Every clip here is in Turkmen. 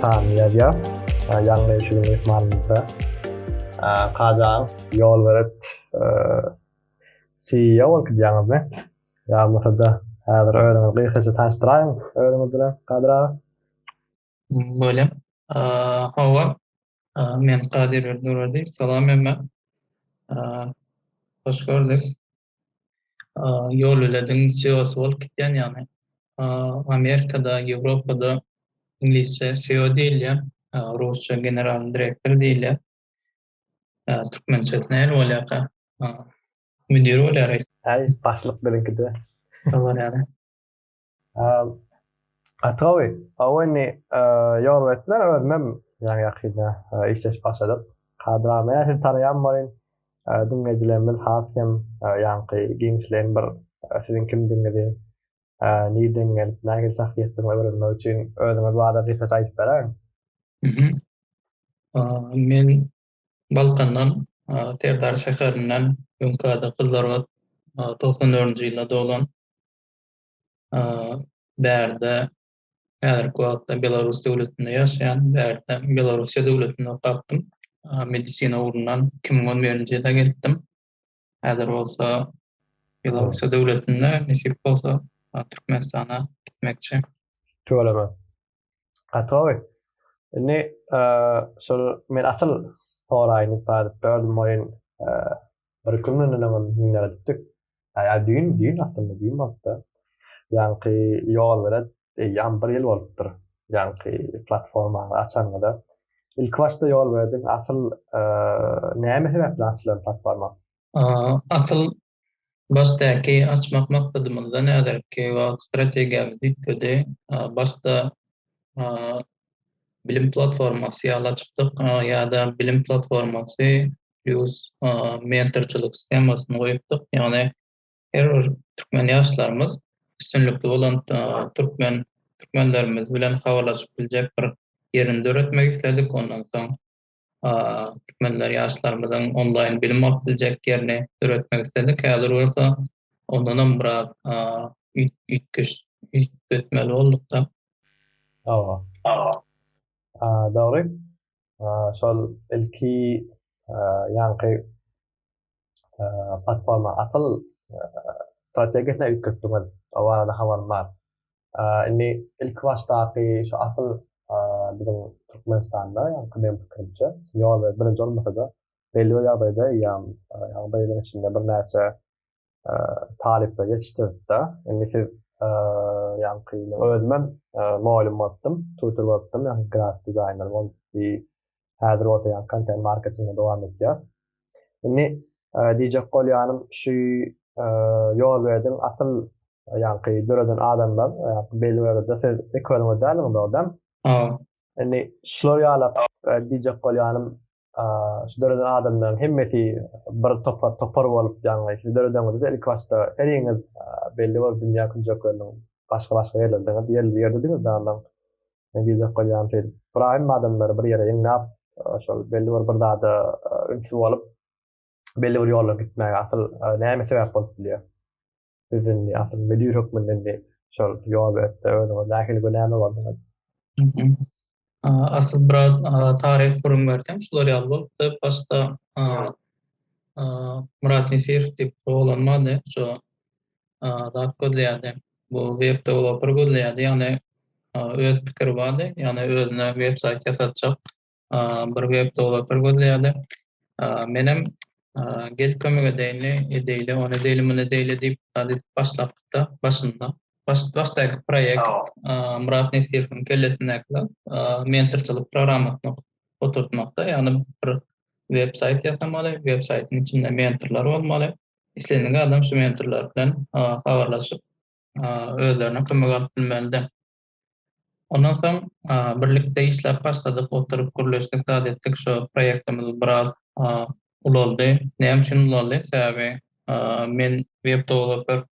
Sami Ýazýas, ýaňy eşigiň myhmanymyzda. Kajan, ýol berip, CEO bolup gidýäňizmi? Ýa bolmasa-da, häzir özüňizi gysgaça tanyşdyraýyň özüňiz bilen, Kadyr aga. Bolýar. Hawa, men Kadyr Durdyýew. Salam hemmä. Hoş gördük. ýol belediň CEO-sy bolup gitýän, ýagny Amerikada, Ýewropada iňlisçe CEO diýilýär, rusça generalnyý direktor diýilýär. Türkmençesi näme bolýarka? Müdir bolýar. Äý, başlyk biziňkide. Şo bolýar. Atgawy, o indi ýol etmän özümem ýaňy ýakynda işleşip başladyk. Kadramy ýa-da taraýan bolýan diňleýjilerimiz has hem ýaňky giňişleýin bir siziň kimdigiňizi, nirden gelip, nähili şahsyýetdigiňizi öwrenmek üçin özüňiz barada gysgaça aýdyp beräýiň. Men Balkandan, Serdar şäherinden, öňküde Gyzlarbat, togsan dördünji ýylda doglan. bärde häzirki wagtda Belarus döwletinde ýaşaýan, bärde Belarusiýa döwletinde okapdym. Medisina ugrundan 2011-nji ýylda gelipdim. Häzir bolsa Belarusiýa döwletinde, nesip bolsa Türkmenistana gitmekçi. Tüweleme. Gatowy. Indi şol men asyl soraýyn bar böldüm oýun. Bir iki gün öňden oňa minere gitdik. Aýa düýn düýn aslynda düýn bolupdy. Ýaňky ýol bile eýýäm bir ýyl bolupdyr. Ýaňky platformany açanymda. Ilki başda ýol berdik asyl näme sebäpli açylan platforma? Asyl Başdaky açmak maksadymyzdan häzirki wagt strategiýamyz üýtgedi. Başda bilim platformasy ýaly açypdyk ýa-da bilim platformasy plus mentorçylyk sistemasyny goýupdyk. Ýagny her bir türkmen ýaşlarymyz üstünlikli bolan türkmen türkmenlerimiz bilen habarlaşyp biljek bir ýerini döretmek isledik. Ondan soň türkmenler ýaşlarymyzyň onlaýn bilim alyp biljek ýerini döretmek isledik. Häzir bolsa ondanam biraz üýtgeş üýtgetmeli bolduk-da. Hawa. Hawa. Dogry. Şol ilki ýaňky platforma asyl strategiýasyna üýtgetdiňiz. O barada habarym bar. Indi ilki başdaky şu asyl biziň Türkmenistanda ýa meň pikirimçe senior we birinji bolmasa-da belli bir ýagdaýda eýýäm ýa bir ýylyň içinde birnäçe talyplar ýetişdiripdi. Indi siz ýaňky ýyl özüm hem mugallym bolupdym, tutor bolupdym, ýa-da grafik dizaýner bolupdy. Häzir bolsa ýa kontent marketingi dowam etýär. Indi e, diýjek bolýanym şu e, ýol berdiň asyl ýaňky döreden adamlar ýa-da belli wagtda siz ilk bölümde däliňiz adam. Hawa. Indi şular ýaly e, diýjek bolýanym e, şu döreden adamlaryň hemmesi bir topar topar bolup ýaňky siz dörediňizde ilk başda heriňiz belli bir dünýä künjekleriniň başga-başga ýerlerinde ýerli ýerdidiňiz däliň. Men biýjak bolýaryn şeýdip. Brahim adamlary bir ýere ýygnap, e, şol belli bir bir zada e, ünsli bolup, belli bir ýola gitmäge asyl e, näme sebäp bolup bilýär? Siz indi asyl müdir hökmünde indi şol ýol ötde özüňiz nähili günäme bardyňyz? Asyl bir taryh gürrüň berseň, şular ýaly bolupdy. Başda Murat Nesir diýip oglan bardy. Şo zat gözleýärdi. Bu web dewloper gözleýärdi, ýagny öz pikiri bardy, ýagny özüne web saýt ýasatjak bir web dewloper gözleýärdi. Menem gel kömek edeýinli, edeýli, ony edeýli, muny edeýli diýip zat edip başlapdykda başynda. Baş başdaky proýekt Myrat Nesirowyň kellesindäki zat mentorçylyk programmasyny oturtmakda, ýagny bir web saýt ýasamaly, web saýtyň içinde mentorlar bolmaly, Islendik adam şu mentorlar bilen habarlaşyp, özlerine kömek alyp bilmeli-de. Ondan soň birlikde işläp başladyk, oturyp gürleşdik, zat etdik. Şu proýektimiz biraz ulaldy. Näme üçin ulaldy? Sebäbi men web-dewloper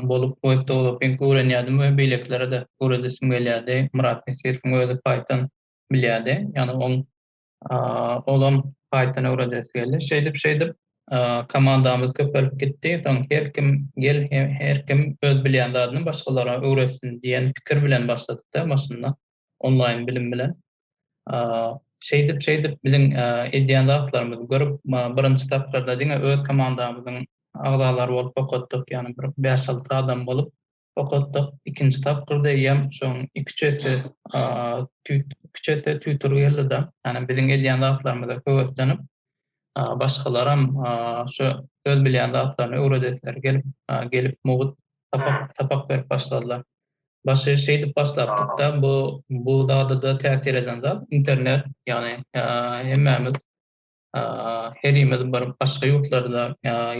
bolup, web-dewloping öwrenýärdim we beýlekilere-de öwredesim gelýärdi. Myrat Nesirowyň özi Python bilýärdi. Ýagny oň Olam gaýtadan öwredesi geldi. Şeýdip şeýdip komandamyz köpelip gitdi. Soň her kim gel her kim öz bilýän zadyny başgalara öwretsin diýen pikir bilen başladykda maşynda onlaýn bilim bilen. Şeýdip şeýdip biziň edýän zatlarymyzy görüp birinji tapgyrda diňe öz komandamyzyň agzalary bolup okatdyk. Ýagny bir bäş-alty adam bolup okatdyk. Ikinji tapgyrda eýýäm şoň iki-üç esse tüýt, iki-üç esse tüýtür geldi-de, ýagny biziň edýän zatlarymyza höweslenip, başgalaram şu öz bilýän zatlaryny öwredesileri gelip, gelip mugt sapak, sapak berip başladylar. Başy şeýdip başlapdyk-da, bu, bu zada-da täsir eden zat internet, ýagny hemmämiz herimiz bir başga ýurtlarda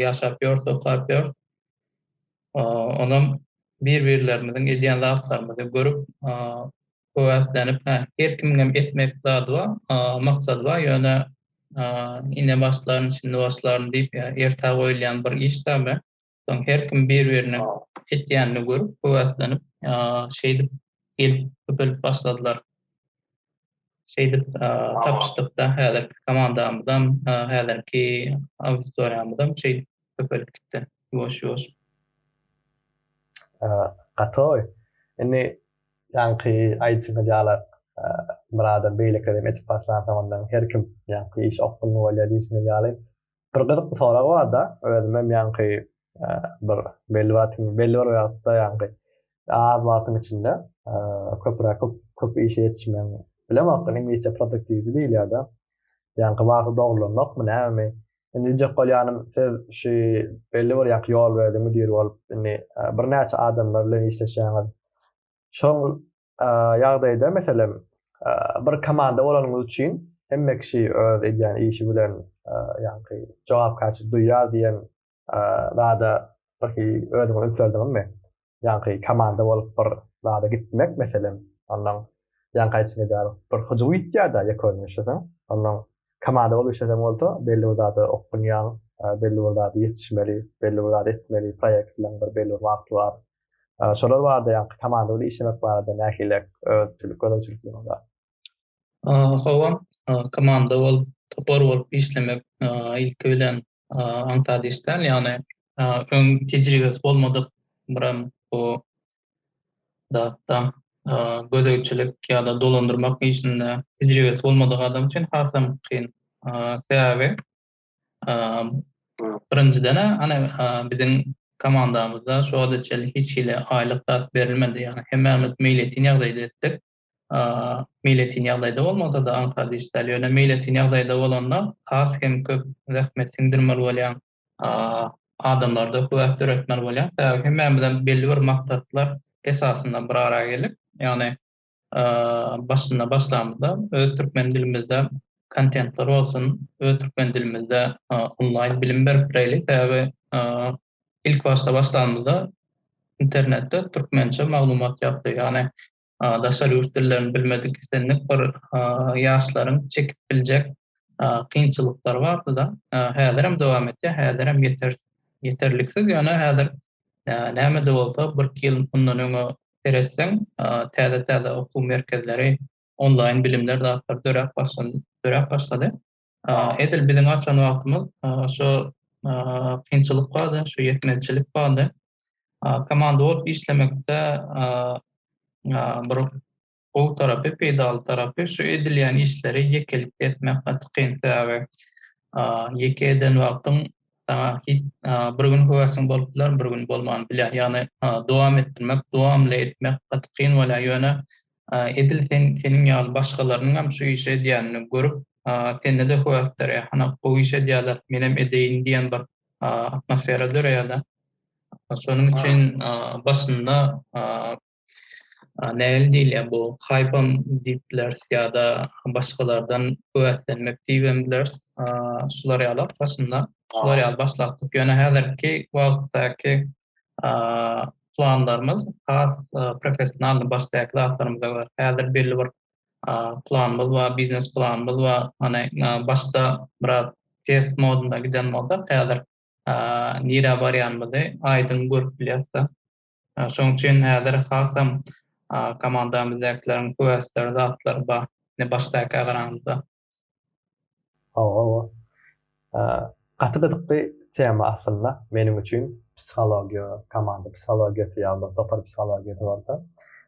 ýaşap ýörs, okap ýörs. Onam bir-birlerimiziň edýän zatlarymyzy görüp, höwäslenip, her kimiňem etmek zady bar, maksady bar, ýöne ine başlaryn, şindi başlaryn diýip, ertä goýulýan bir iş däl. Soň her kim bir-birine etýänini görüp, höwäslänip, şeýdip gelip köpelip başladylar. Şeýdip tapyşdykda häzirki komandamyzam, häzirki auditoriýamyzam şeýdip köpelip gitdi ýuwaş-ýuwaş. Gaty gowy. Indi ýaňky aýdyşyňyz ýaly Myradam beýlekilerem etip başlansoň ondan her kim ýaňky iş okgunly bolýar diýşiňiz ýaly Bir gyzykly sorag bar-da, özüm hem ýaňky bir belli wagt, belli bir wagtda ýaňky az wagtyň içinde köpräk köp köp işe ýetişmegiň bilemok, iňlisçe produktiwdi diýilýär-de. Ýaňky wagty dogrulanokmy, nämemi? Indi diýjek bolýanym, siz şu belli bir ýaňky ýol berdi müdir bolup, indi birnäçe adamlar bilen işleşýäňiz. Şol ýagdaýda meselem bir komanda bolanyňyz üçin hemme kişi öz edýän işi bilen ýaňky jogapkärçilik duýýar diýen zada birki özüňi ünslerdiňizmi? Ýaňky komanda bolup bir zada gitmek meselem, ondan ýaňky aýtjak edýär bir hyjuw ýitýär-de ýekun işleseň, ondan komanda bolup işleseň bolsa belli bir zada okgunýaň, belli bir zada ýetişmeli, belli bir zada etmeli, proýekt bilen bir belli bir wagty bar. Şolar barada ýa komanda bilen işlemek barada nähili öwütçilik gözegçilikler bar? Hawa, komanda bolup, topar bolup işlemek ilki bilen aňsat iş däl, ýagny öň tejribesi bolmadyk bir hem bu zatda gözegçilik ýa-da dolandyrmak işinde tejribesi bolmadyk adam üçin hasam kyn. Sebäbi Birinjiden-ä, ana, biziň komandamyzda şu wagta çenli hiç hili aýlyk zat berilmedi. Ýagny hemmämiz meýletin ýagdaýda etdik. Meýletin ýagdaýda bolmasa-da aňsat iş däl. Ýöne meýletin ýagdaýda bolanda has hem köp zähmet siňdirmeli bolýaň. Adamlarda höwes döretmeli bolýaň. Sebäbi hemmämizem belli bir maksatlar esasynda bir araya geldik. Ýagny başynda başlamyzda öz türkmen dilimizde kontentler bolsun, öz türkmen dilimizde onlaýn bilim berip bileýli. Sebäbi ilk başda başlamyzda internetde türkmençe maglumat ýokdy. Ýagny daşary ýurt dillerini bilmedik islendik bir ýaşlaryň çekip biljek kynçylyklary bardy-da. Häzirem dowam etýär, häzirem ýetersiz, ýeterliksiz. Ýöne häzir Näme-de bolsa, birki ýyl mundan öňe seretseň, täze-täze okuw merkezleri, onlaýn bilimler zatlary döräp başlady, döräp başlady. Edil biziň açan wagtymyz şo kynçylyk bardy, şo ýetmezçilik bardy. Komanda bolup işlemekde bir gowy tarapy, peýdaly tarapy şu edilýän işleri ýekelikde etmek gaty kyn. Sebäbi ýeke eden wagtyň saňa hiç bir gün höwesiň bolup biler, bir gün bolman bilýär. Ýagny dowam etdirmek, dowamly etmek gaty kyn bolýar. Ýöne edil sen seniň ýaly başgalarynyň hem şu işi edýänini görüp, sende-de höwes döreýär. Hana gowy iş edýärler, menem edeýin diýen bir atmosfera döreýär-de. Şonuň üçin başynda Nähili diýilýär bu? Haýpam diýip bileris ýa-da başgalardan höweslenmek diýibem bileris. Şular ýaly başynda şular ýaly başlapdyk. Ýöne häzirki wagtdaky planlarymyz has professionalny başdaky zatlarymyza görä. Häzir belli bir planymyz bar, biznes planymyz bar. Hany başda biraz test modunda giden bolsa, häzir nirä barýanymyzy aýdyň görüp bilýäris-de. Şonuň üçin häzir hasam komandamyzdakilerin höwesleri zatlary bar. Indi başdakä garanyňyzda. Hawa. Gaty gyzykly tema aslynda meniň üçin psihologiýa, komanda psihologiýasy ýa-da topar psihologiýasy bolsa.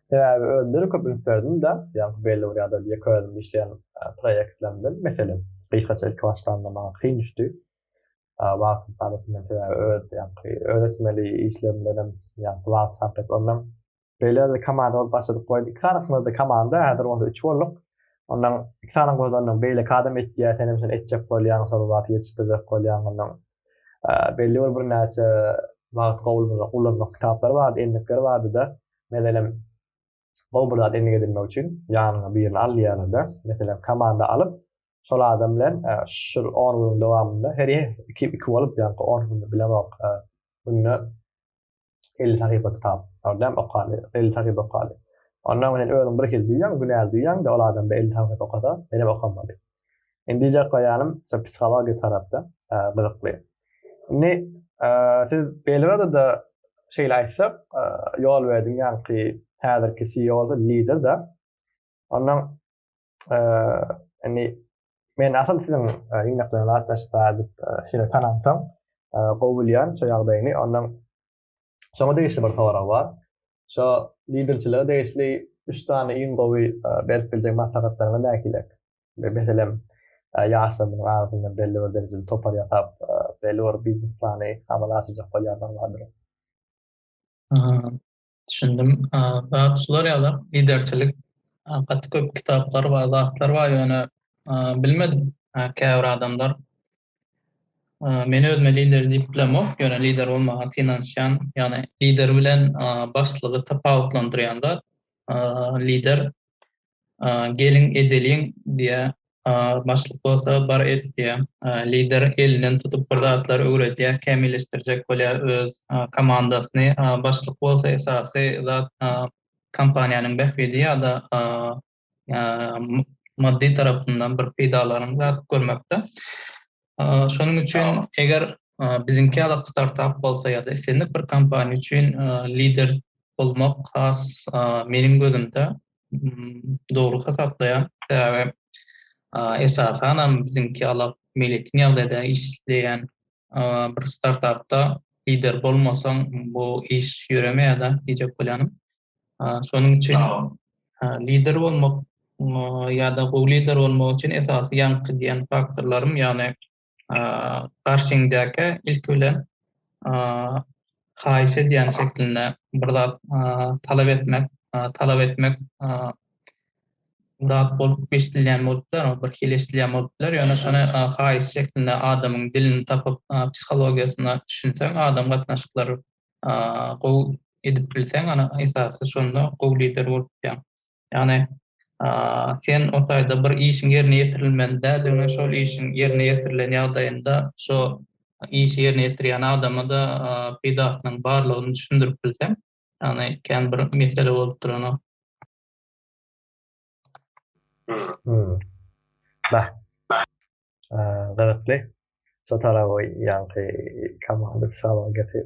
Sebäbi özümde-de köp üns berdim-de, ýaňky belli bir ýa-da ýeke özüm işleýän proýektlerimden, meselem, gysgaça ilki başlanda maňa kyn düşdi. wagtyň talypyndan sebäbi öz ýagny öwretmeli işler bilen hem ýagny wagt sarp edip ondan beýle bir komanda bolup başladyk goý iki sanasymyzda komanda häzir bolsa üç bolduk ondan iki sany gozanyň beýle kadam etýär sen hem şuny etjek bolýaň şol wagty ýetişdirjek bolýaň ondan belli bir birnäçe wagt gowulmyza ulanmak kitaplary bardy endikleri bardyda mezelem Gowy bir zat endik edinmek üçin ýanyňa birini al diýýärler-de. Meselem, komanda alyp, şol adam bilen e, şul 10 günüň dowamynda her iki iki bolup ýa-da 10 günde bilemok. E, günde 50 sahypa kitap. Ordam okaly, 50 sahypa okaly. Ondan men özüm bir hil duýýan, günäli duýýan, de ol adam 50 sahypa okasa, menem okamaly. Indi ýa goýanym, şu psihologiýa tarapda gyzykly. Indi siz Belgrada da şeýle aýtsak, ýol berdiň ýaňky häzirki CEO da lider da. Ondan indi men asyl siziň ýygnaklaryňyza gatnaşyp bardyk, şeýle tanamsam gowy bilýän şu ýagdaýyny. Ondan Şoňa degişli bir sorag bar. Şo liderçilige degişli üç sany iň gowy berip biljek maslahatlaryňyz nähililer? Meselem, ýaşlarymyzyň arasynda belli bir derejede topar ýasap, belli bir biznes plany amala aşyrjak bolýanlar bardyr. Düşündim. Zat şular ýaly, liderçilik gaty köp kitaplar bar, zatlar bar, ýöne bilmedim. Käbir adamlar Men özüme lider diýip bilemok, ýöne lider bolmaga synanyşýan, ýagny lider bilen başlygy tapawutlandyrýan zat, lider geliň edeliň diýýä, başlyk bolsa bar et diýýä. Lider elinden tutup bir zatlar öwredýä, kämilleşdirjek bolýa öz komandasyny, başlyk bolsa esasy zat kompaniýanyň bähbidi ýa-da maddy tarapyndan bir peýdalaryň zat görmekde. Şonuň üçin eger biziňki ýaly startap bolsa ýa-da islendik bir kompaniýa üçin lider bolmak has meniň gözümde dogry hasaplaýan. Sebäbi esasan hem biziňki ýaly meýletin ýagdaýda işleýän bir startapda lider bolmasaň bu iş ýöremeýär-de, diýjek bolýanym. Şonuň üçin lider bolmak ýa-da gowy lider bolmak üçin esasy ýaňky diýen faktorlarym, ýagny garşyňdaky ilki bilen haýyş edýän şeklinde bir zat talap etmek, talap etmek zat bolup eşidilýän bolup biler, bir hili eşidilýän bolup biler, ýöne şony haýyş şeklinde adamyň dilini tapyp, psihologiýasyna düşünseň, adam gatnaşyklary gowy edip bilseň ana esasy şonda gowy lider bolup bilýäň. Ýagny sen o taýda bir işiň ýerine ýetirilmeli däl diňe şol işiň ýerine ýetirilen ýagdaýynda şo işi ýerine ýetirýän adama-da peýdasynyň barlygyny düşündirip bilseň ýagny kän bir mesele bolup duranok. Bah. Gyzykly. Şu tarap ýanky komanda psihologiýasy.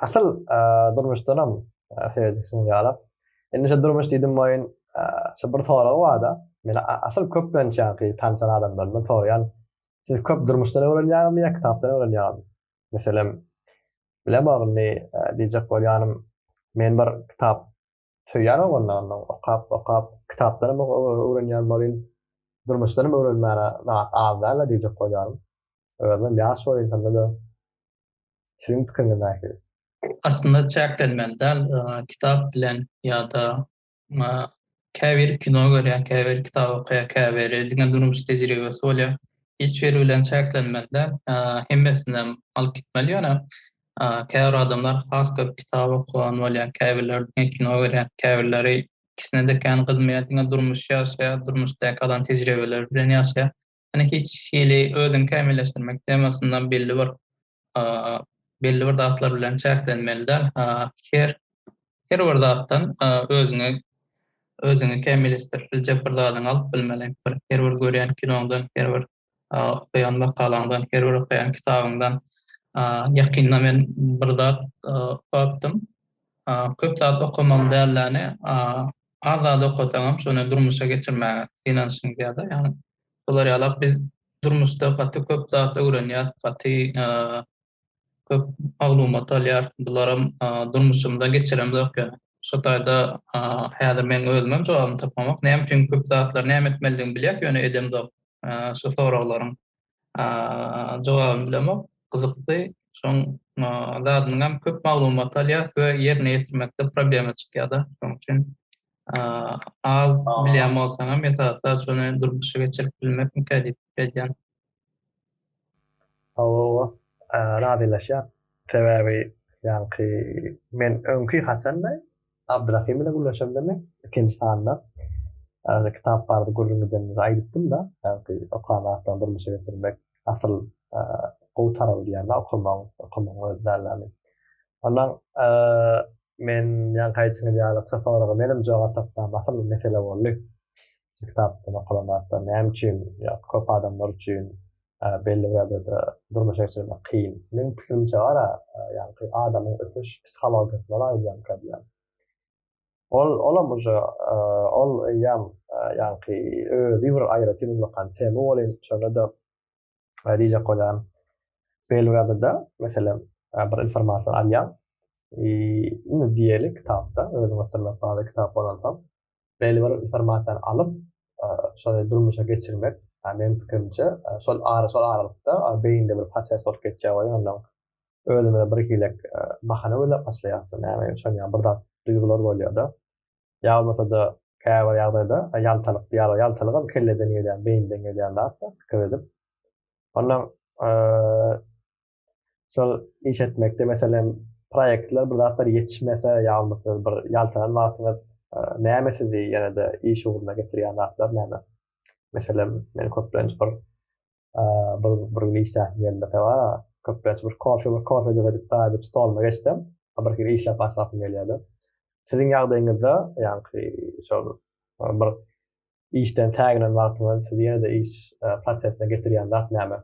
Asyl durmuşdanam seredişim ýalap. Indi şu durmuş diýdim boýun şu bir sorag barda. Men asyl köplenç ýanky tanşan adamlarymdan soraýan. Siz köp durmuşdan öwrenýäňizmi ýa kitapdan öwrenýäňizmi? Meselem, bilemok indi diýjek bolýanym. Men bir kitap söýýän oglanlarynda okap okap kitapdan hem öwrenýän bolin durmuşdan hem öwrenmäne zat az dälä diýjek bolýaryn özüm ýaş bolin şondada siziň pikiriňiz nähili? Aslynda çäklenmeli däl kitap bilen ýada käbir kino görýän käbir kitap okaýan käbiri diňe durmuş tejribesi bolýar hiç biri bilen çäklenmeli däl hemmesinem alyp gitmeli ýöne Käbir adamlar has köp kitap okuwan bolýar, käbirleri diňe kino görýär, käbirleri ikisine-de kän gyzmaýar, diňe durmuş ýaşaýar, durmuşdaky alan tejribeleri bilen ýaşaýar. Ýöne hiç hili özüňi kämilleşdirmek temasynda belli bir belli bir zatlar bilen çäklenmeli däl. Her her bir zatdan özüňi özüňi kämilleşdirip biljek bir zadyňy alyp bilmeli. Her bir görýän kinoňdan, her bir okaýan makalaňdan, her bir okaýan kitabyňdan ýakynda men bir zat okapdym. Köp zat okamam dälläni, az zat okasaňam şony durmuşa geçirmäge synanyşyň diýýärler. Ýagny bular ýalak biz durmuşda gaty köp zat öwrenýäs, gaty köp maglumat alýar. Bularam durmuşymda geçiremzok ýöne. Şo taýda häzir meň özümem jogabyny tapamok. Näme üçin köp zatlary näme etmelidigini bilýäs, ýöne edemzok. Şu soraglaryň jogabyny bilemok. Gyzykly. Şoň zadynyňam köp maglumat alýas we ýerine ýetirmekde problema çykýada. Şoň üçin az bilýän bolsaňam esasy zat şony durmuşa geçirip bilmekmikä diýip edýän. Hawa, razylaşýan. Sebäbi ýaňky men öňki haçanda Abdrahym bilen gürleşemde men ikinji sanda kitap barada gürrüň edenimde aýdypdym-da, ýaňky okan zatlaryňy durmuşa geçirmek asyl gowy tarawy diýýärler, okamagyň, okamagyň özi dälläli. Ondan men ýaňky aýdyşyňyz ýaly, şo soraga menem jogap tapman, asyl mesele boldy. şu kitapdan okalan zatlar näme üçin ýa-da köp adamlar üçin belli bir ýagdaýda durmuşa geçirmek kyn. Meniň pikirimçe bar-a, ýaňky adamyň ösüş psihologiýasyna laýyklykda diýýän. Ol, olam uje, ol eýýäm ýaňky özi bir aýratyn ullakan tema welin, şonda-da Rize Kodan Belgradada mesela bir informasyon alýan. Indi diýeli kitapda özüň oturmak bazı kitap bolan soň belli bir informasyony alyp şony durmuşa geçirmek meň pikirimçe şol ara şol aralykda beýinde bir proses bolup geçýär we ondan özüme bir hilek bahana gözläp başlaýarsyň näme şonýa bir zat duýgular bolýar-da ýa bolmasa-da käbir ýagdaýda ýaltalyk diýýärler. Ýaltalygam kelleden gelýän, beýinden gelýän zat-da, pikir edip. Ondan şol iş etmekde, meselem, proýektler bir zatlar ýetişmese ýa bolmasa bir ýaltalan wagtyňyz näme sizi ýene-de iş ugruna getirýän zatlar näme? Meselem, men köplenç bir bir bir gün işläp geldi seba köplenç bir kofe bir kofe edip daýyp stoluma geçsem bir hili işläp başlasym gelýärdi siziň ýagdaýyňyzda ýaňky şol bir işden tägelen wagtyňyz sizi ýene-de iş prosesine getirýän zat näme?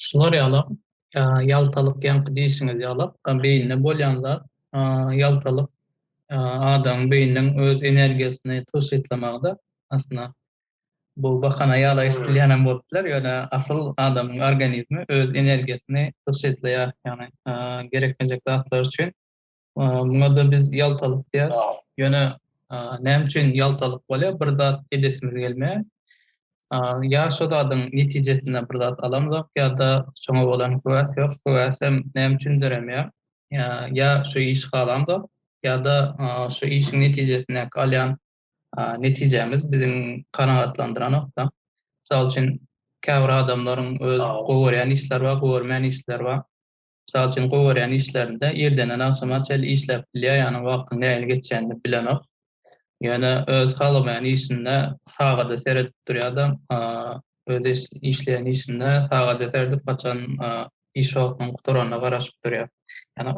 Şular ýalam, ýaltalyk ýaňky diýşiňiz ýalak, beýinde bolýan zat, ýaltalyk adamyň beýniniň öz energiýasyny tygşytlamagydyr aslynda. Bu bahana ýaly eşidilýänem bolup biler, ýöne asyl adamyň organizmi öz energiýasyny tygşytlaýar, ýagny gerekmejek zatlar üçin. Muňa-da biz ýaltalyk diýýäris. Ýöne näme üçin ýaltalyk bolýar? Bir zat edesimiz gelmeýär. Ýa şo zadyň netijesinde bir zat alamzok, ýa-da şoňa bolan höwäs ýok. Höwäsem näme üçin döremeýär? Ýa şu işi halamzok, ýa-da şu işiň netijesindäki alýan netijämiz biziň kanagatlandyranok-da. Mysal üçin, käbir adamlaryň öz gowy görýän işleri bar, gowy görmän işleri bar. Mysal üçin, gowy görýän işlerinde irdenden agşama çenli işläp bilýär, ýagny wagtyň nähili geçýänini bilenok. Ýöne öz halamaýan işinde sagada seredip durýar-da, öz işleýän işinde sagada seredip, haçan iş wagtynyň gutaranyna garaşyp durýar. Ýagny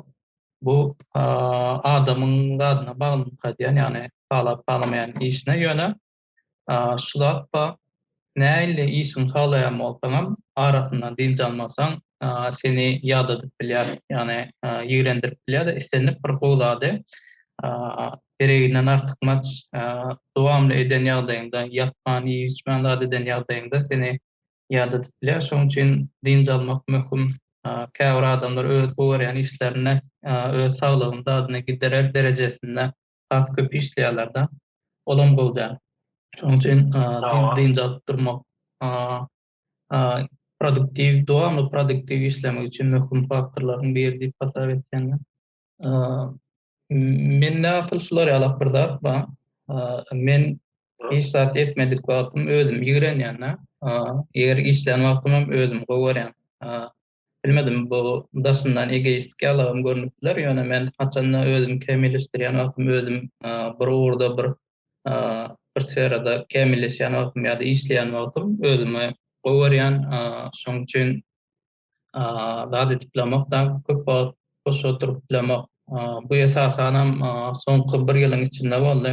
bu adamyň zadyna baglylykda edýän, ýagny halap-halamaýan işine, ýöne şu zat bar, nähili işiňi halaýan bolsaňam, arasyndan dynç almasaň, seni ýadadyp bilýär, ýagny ýigrendirip bilýär-de, islendik bir gowy zady gereginden artykmaç dowamly eden ýagdaýyňda, ýapman, iýip-içmän zat eden ýagdaýyňda seni ýada tutup bilýär. Şonuň üçin dynç almak möhüm. Käbir adamlar öz görýän işlerinde öz saglygyny dadyna giderer derejesinde has köp işleýärler-de. Olam gowy däl. Şonuň üçin dynç alyp durmak produktiw, dowamly produktiw işlemek üçin möhüm faktorlaryň biri diýip hasap etýän men. Mende asyl şular ýalak bir zat bar. Men hiç zat etmedik wagtym özüm ýigrenýän-de. Eger işlän wagtym hem özüm gowy görýän. Bilmedim bu daşyndan egoistik ýalagam görnüp biler, ýöne men haçanda özümi kämilleşdirýän wagtym özüm bir ugurda bir bir sferada kämilleşýän wagtym ýa-da işleýän wagtym özümi gowy görýän. Şonuň üçin zat edip bilemek da köp wagt boş oturyp bilemek. Bu esasan hem soňky bir ýylyň içinde boldy.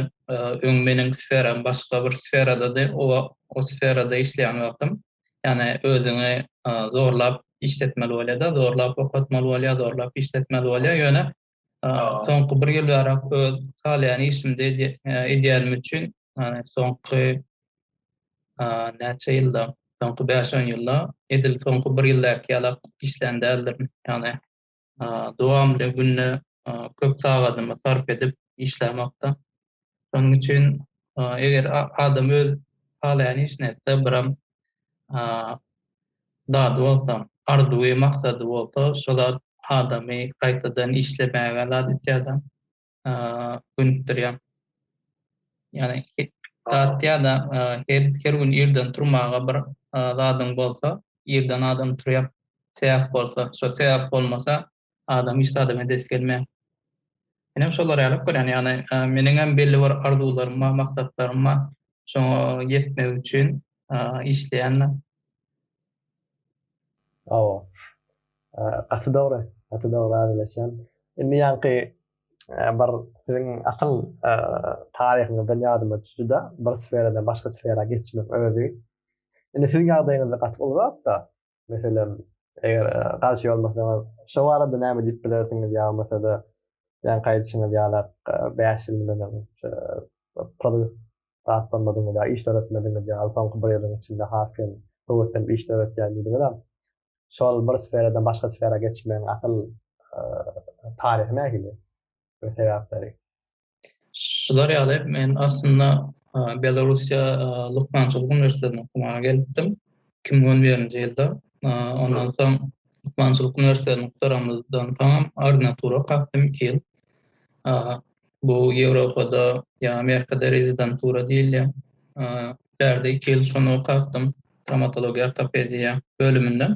Öň meniň sferam başga bir sferadady. O wagt o sferada işleýän wagtym, ýani özüňi zorlap işletmeli bolýar-da, zorlap okatmaly bolýar, zorlap işletmeli bolýar. Ýöne Soňky bir ýyl ýarak öz halaýan işimde edýänim üçin, soňky näçe ýylda, soňky bäş-on ýylda edil soňky bir ýyldaky ýalak işlän däldirin. Ýagny dowamly günde köp sagadymy sarp edip işlämokda. Şonuň üçin eger adam öz halaýan işini etse, biram zady bolsa, arzuwy, maksady bolsa, şo zat adamy gaýtadan işlemäge zat etýär-de, gönükdirýär. Ýagny zat ýa-da her gün irden turmaga bir zadyň bolsa, irden adam turýar, sebäp bolsa, şo sebäp bolmasa, Adam hiç zada medet gelmeýär. Menem şolara ýaryp görýän, ýagny meniňem belli bir arzuwlarym bar, maksatlarym bar. Şoňa ýetmek üçin işleýän men. Hawa. Gaty dogry, gaty dogry razylaşýan. Indi ýaňky bir siziň asyl taryhyňyzdan ýadyma düşdi-de, bir sferadan başga sfera geçmek özi. Indi siziň ýagdaýyňyzda gaty uly zat-da. Meselem, eger garşy bolmasaňyz, şo barada näme diýip bilersiňiz ýa-da ýan gaýdyşyňyz ýa-da bäş ýyl mundan öň pul zat bolmadygyňyz ýa iş döretmedigiňiz ýa soňky bir ýylyň içinde has hem höweslenip iş döretýän diýdiňizem, şol bir sferadan başga sfera geçmegiň asyl taryhy nähili we sebäpleri? Şular ýaly men aslynda Belarusiýa lukmançylyk uniwersitetine okumaga gelipdim. 2011-nji ýylda. Ondan soň lukmançylyk uniwersitetini gutaranymdan soňam ordinatura kakdym 2 ýyl. Bu Ýewropada ýa Amerikada rezidentura diýilýär. Bärde 2 ýyl şony okapdym, trawmatologiýa ortopediýa bölüminde.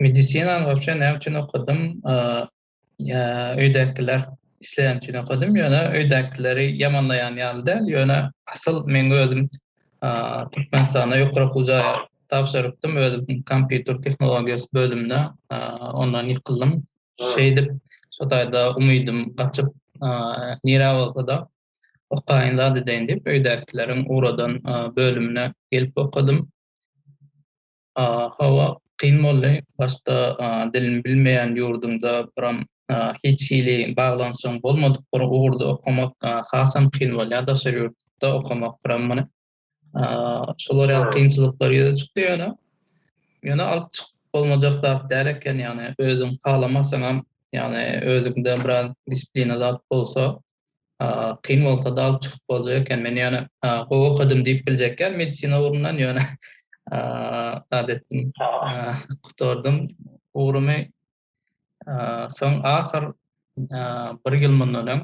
Medisinany wapşe näme üçin okadym? öýdäkiler isleýän üçin okadym, ýöne öýdäkileri ýamanlaýan ýaly däl, ýöne asyl meň özüm Türkmenistanda ýokary okuw jaýa tabşyrypdym, özüm kompýuter tehnologiýasy bölümine, ondan ýykyldym. Şeýdip, şo taýda umydym gaçyp, nirä bolsa-da okaýyn zat edeýin diýip, öýdäkileriň ugradan bölümine gelip okadym. Hawa, kyn boldy. Başda dilini bilmeýän ýurduňda biram hiç hili baglanyşygyň bolmadyk bir ugurda okamak hasam kyn bolýar, daşary ýurtda okamak biram muny. Şolar ýaly kynçylyklar ýüze çykdy ýöne. Ýöne alyp çykyp bolmajak zat däl eken, ýagny özüň halamasaňam, ýagny özüňde biraz disiplina zat bolsa, kyn bolsa da alyp çykyp boljak eken. Men ýöne gowy okadym diýip biljekýän medisina ugrundan ýöne zat etdim. Gutardym ugrumy. Soň ahyr bir ýyl mundan öň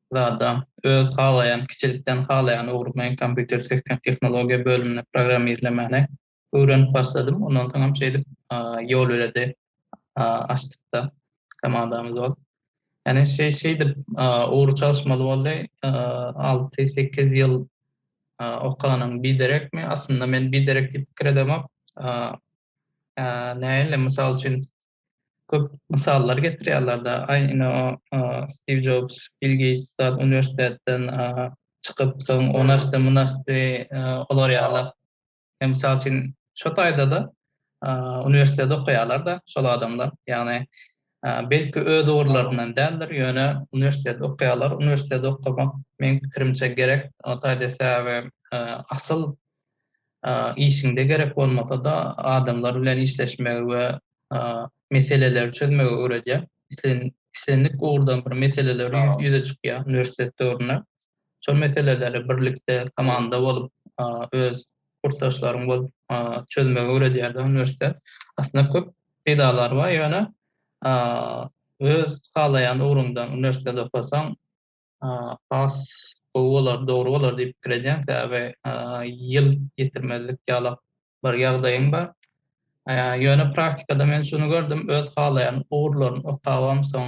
zada öz halaýan, kiçilikden halaýan ugrumy kompýuter tehnologiýa bölümine programmirlemäne öwrenip başladym. Ondan soňam şeýdip ýolbeledi açdykda komandamyz bolup. Ýani şeý şeýdip ugry çalyşmaly boldy. Alty, sekiz ýyl okanyň biderekmi? Aslynda men biderek diýip pikir edemok. Nähili? Mysal üçin köp mysallar getirýärler-de, aý ine o Stiw Jobs, Bill Geýts zat uniwersitetden çykyp, soň ony açdy, muny açdy, olar ýaly. Ýa mysal üçin şu taýda-da uniwersitede okaýarlar-da şol adamlar. Ýagny belki öz ugurlaryndan däldir, ýöne uniwersitede okaýarlar. Uniwersitede okamak meň pikirimçe gerek. O taýda sebäbi asyl işiňde gerek bolmasa-da adamlar bilen işleşmegi we meseleleri çözmegi öwredýär. Islendik ugurdan bir meseleler ýüze çykýar uniwersitet döwründe. Şol meseleleri birlikde, komanda bolup, öz kursdaşlaryň bolup çözmegi öwredýärdi uniwersitet. Aslynda köp peýdalary bar, ýöne öz halaýan ugruňdan uniwersitet okasaň, has gowy bolar, dogry bolar diýip pikir edýän, sebäbi ýyl ýitirmezlik ýalak bir ýagdaýym bar. Ýöne praktikada men şuny gördüm, öz halaýan ugurlaryny okabam, soň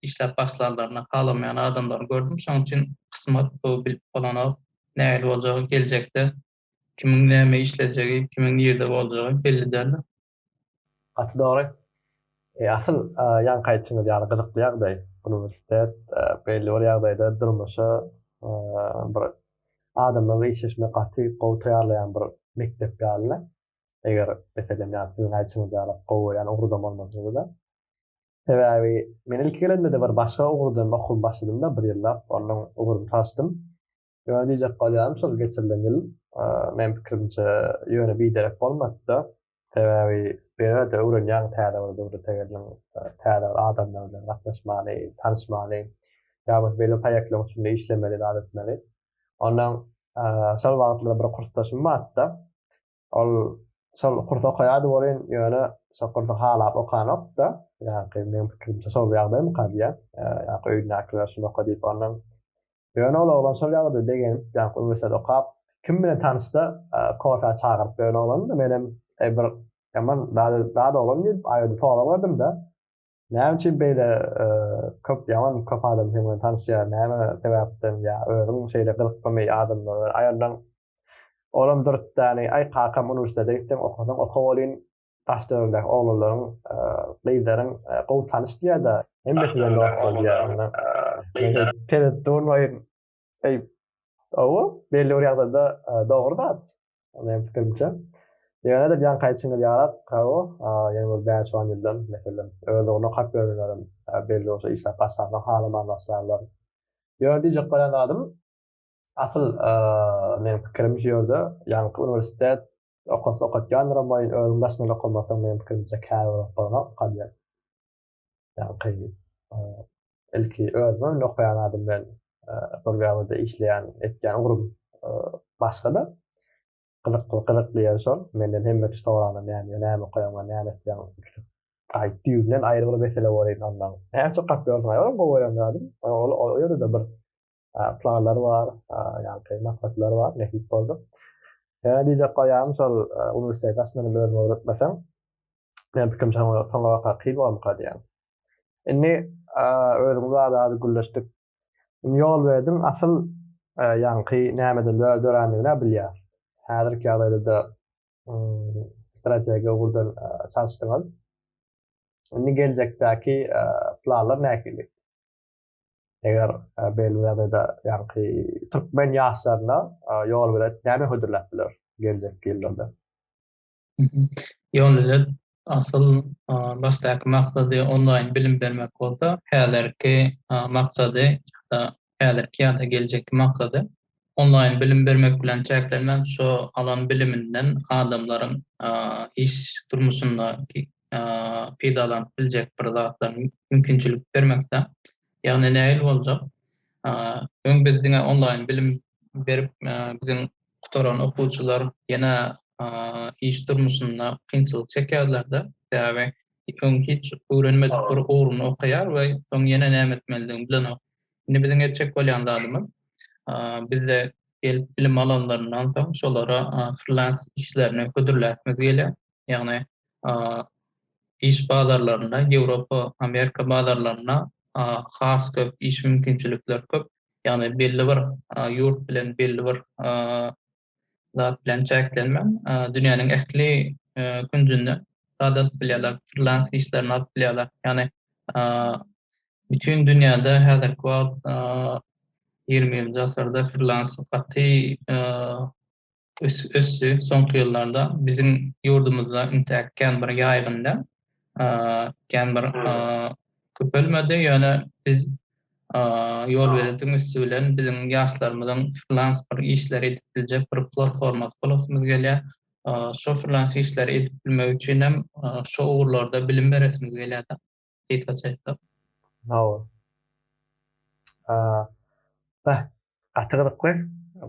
işläp başlanlaryna halamaýan adamlary gördüm. Şonuň üçin kysmat bu bilip bolanok. Nähili boljagy geljekde kimiň näme işlejegi, kimiň nirde boljagy belli däldir. Gaty dogry. E, asyl e, ýanky aýtýaňyz ýaly gyzykly ýagdaý. Uniwersitet e, belli bir ýagdaýda durmuşa e, bir adamlary işleşmek gaty gowy taýýarlaýan bir mekdep ýaly. Eger meselem ýa siziň aýtýaňyz ýaly gowy ýaly ugurda bolmasaňyzda. Sebäbi men ilki gelende-de bir başga ugurdan okuw başladym-da bir ýyllap, ondan ugrumy saçdym. Ýöne diýjek galýarym şol geçirilen ýyl, meň pikirimçe, ýöne biderek bolmady-da. Sebäbi bu ýerde öwrenýäň täze bir döwlete geldiň, täze bir adamlar bilen gatnaşmaly, tanyşmaly, ýa bolsa belli bir proýektler üstünde işlemeli zat etmeli. Ondan şol wagtlar bir kursdaşym bardy-da, Ol şol kursy okaýardy welin, ýöne şol kursy halap okanokdy-da. Ýaňky meniň pikirimçe şol ýagdaýmyka diýýän. Ýaňky öýündäkiler şuny oka diýip ondan. Ýöne ol oglan şol ýagdaýa begenip, ýaňky uniwersitet okap, kim bilen tanyşsa, kofä çagyryp ýören oglandy. Menem, eý bir ýaman dada oglan diýip, aýgytly sorag berdim-de. Näme üçin beýle köp ýaman köp adam sen bilen tanyşýar? Näme sebäpden ýa özüň şeýle gyzyklymy adamlara aýallaň? Olam dürtdäni, aý kakam uniwersitete gitseň okasaň oka welin daş döwürdäki oglanlaryň, gyzlaryň gowy tanyş diýýär-de, hemmesi bilen dost bol diýýär. Onda men tereddüt bolmaýyn. Eý, owa, belli bir ýagdaýda dogry zat. Meň pikirimçe. Ýöne de jan kaýçyňyz ýarap, hawa, ýene bir bäş on ýyldan, meselem, öz ugruna hak berenlerem belli bolsa işläp başlasa halaman başlarlar. Ýöne diýjek bolýan zadym, asyl meň pikirim şu ýerde, ýaňky uniwersitet okasy okatýandyram welin özüň daşyndan okamasaň meň pikirimçe kär bolup bolmaz, kadiýe. ýaňky ilki özüme öňde okaýan adam bilen bir ýerde işleýän etýän ugrum başga-da gyzykly gyzykly ýeri şol menden hemme kişi soranda näme näme okaýaňmy näme etýäň gaýyp düýbünden aýry bir mesele bor idi ondan näçe gapýorsyň aý olam gowy öýrenýärdim ol ýerde-de bir planlar bar, ýa-da maksatlar bar, nähili boldy. Ýa diýjek goýarym, şol uniwersiteti aslynda men özüm öwretmesem, men pikrimçe soňa soňa waka kyn bolarmyka diýýän. Indi özümiz barada az gürleşdik. Indi ýol berdim, asyl ýaňky nämeden dörändigini-ä bilýär. Häzirki ýagdaýda-da strategiýa ugurdan çalyşdyňyz. Indi geljekdäki planlar nähili? Eger belli ýagdaýda ýaňky türkmen ýaşlaryna ýolbilet näme hödürläp biler geljekki ýyllarda? Ýolbilet asyl başdaky maksady onlaýn bilim bermek bolsa, häzirki maksady ýa-da häzirki ýa-da geljekki maksady onlaýn bilim bermek bilen çäklenmän, şo alan biliminden adamlaryň iş durmuşynda peýdalanyp biljek bir zatlar mümkinçilik bermekde. Ýagny nähili boljak? Öň biz diňe onlaýn bilim berip, biziň gutaran okuwçylar ýene iş durmuşynda kynçylyk çekýärlerdi. Sebäbi öň hiç öwrenmedik bir ugruny okaýar we soň ýene näme etmelidigini bilenok. Indi biziň etjek bolýan zadymyz, bizde gelip bilim alanlaryndan soň şolara frilans işlerini hödürläsimiz gelýär. Ýagny iş bazarlarynda, Ýewropa, Amerika bazarlarynda has köp iş mümkinçilikleri köp. Ýagny belli bir ýurt bilen belli bir zat bilen çäklenmän, dünýäniň ähli künjünde zat alyp bilýärler, frilans işlerini alyp bilýärler. Ýagny bütin dünýäde häzirki wagt ýigrimi birinji asyrda frilans gaty ösdi soňky ýyllarda. Biziň ýurdumyzda intäk kän bir ýaýgyn däl. kän bir köpelmedi, ýöne biz ýolbeletiň üsti bilen biziň ýaşlarymyzyň frilans bir işleri edip biljek bir platformasy bolasymyz gelýär. Şo frilans işleri edip bilmek üçin hem şo ugurlarda bilim beresimiz gelýär-de, gysgaça aýtsak. Hawa. Beh, gaty gyzykly,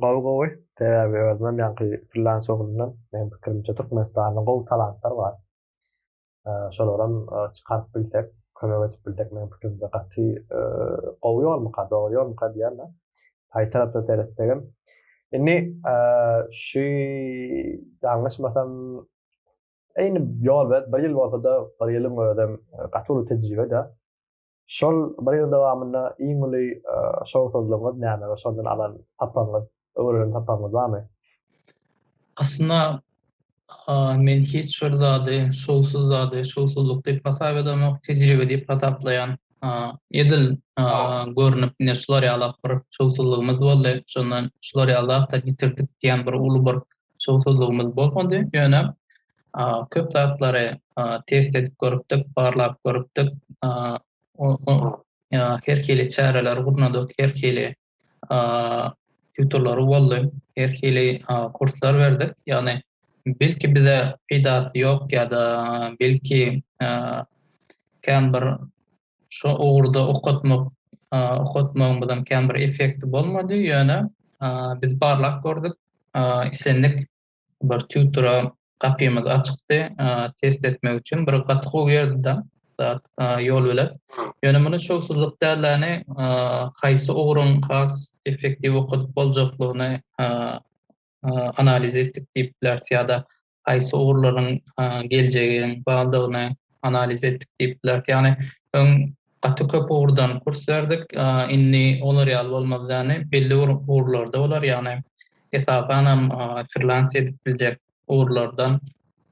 gowy gowy. Sebäbi özümem ýaňky frilans ugrundan, meniň pikirimçe Türkmenistanda gowy talantlar bar. şolaram çykaryp bilsek, kömek edip bilsek, meniň pikirimde gaty gowy ýolmyka, dogry ýolmyka diýýän-de. Taý tarapdan seretsegem. Indi şu ýalňyşmasam, eýni ýol bir ýyl bolsa-da, bir ýylyň özem gaty uly tejribe-de. Şol bir ýylyň dowamynda iň uly şowsuzlygyňyz näme we şondan alan sapagyňyz, öwrenen sapagyňyz barmy? Aslynda men hiç bir zady şowsuz zady, şowsuzlyk diýip hasap edemok, tejribe diýip hasaplaýan. Edil görnüp ine şular ýalak bir şowsuzlygymyz boldy, şondan şular ýaly zatlar ýitirdik diýen bir uly bir Şowsuzlygymyz bolmady, ýöne köp zatlary test edip görüpdik, barlap görüpdik. Her hili çäreleri gurnadyk, her hili tutorlary boldy, her hili kurslar berdik. Ýagny belki bize peýdasy ýok ýa-da belki kän bir Şu ugurda okatmak, okatmagymyzyň kän bir effekti bolmady, ýöne biz barlap gördük, islendik bir tutora gapymyz açykdy, test etmek üçin bir gaty gowy ýerdi-de zat, ýol bilen. Ýöne muny şowsuzlyk dälläni, haýsy ugruň has effektiw okadyp boljaklygyny analiz etdik diýip bileris ýa-da haýsy ugurlaryň geljegiň bardygyny analiz etdik diýip bileris. Ýagny öň gaty köp ugurdan kurs berdik. Indi olar ýaly bolmaz. Ýagny belli bir ugurlarda bolar. Ýagny esasan hem freelance edip biljek ugurlardan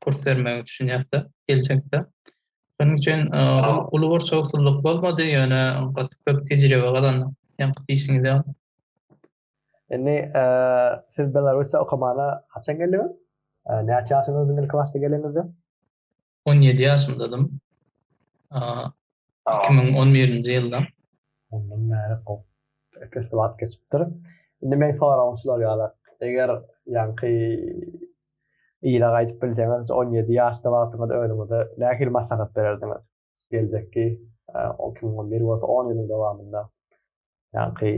kurs bermegi düşünýärdi geljekde. Şonuň üçin uly bir şowsuzlyk bolmady, ýöne gaty köp tejribe gazandyk. Ýa-da işiňizde Indi siz Belarusda okamana haçan geldiňiz? Näçe ýaşyňyzdyň ilki başda gelenizde? On ýedi ýaşymdadym. Iki müň on birinji ýylda. Ondan bäri kop köp wagt geçipdir. Indi meň soragym şular ýaly, eger ýaňky ýyla gaýdyp bilseňiz, on ýedi ýaşda wagtyňyz önüňize nähili maslahat bererdiňiz? geljekki on iki müň bir bolsa on ýylyň dowamynda ýaňky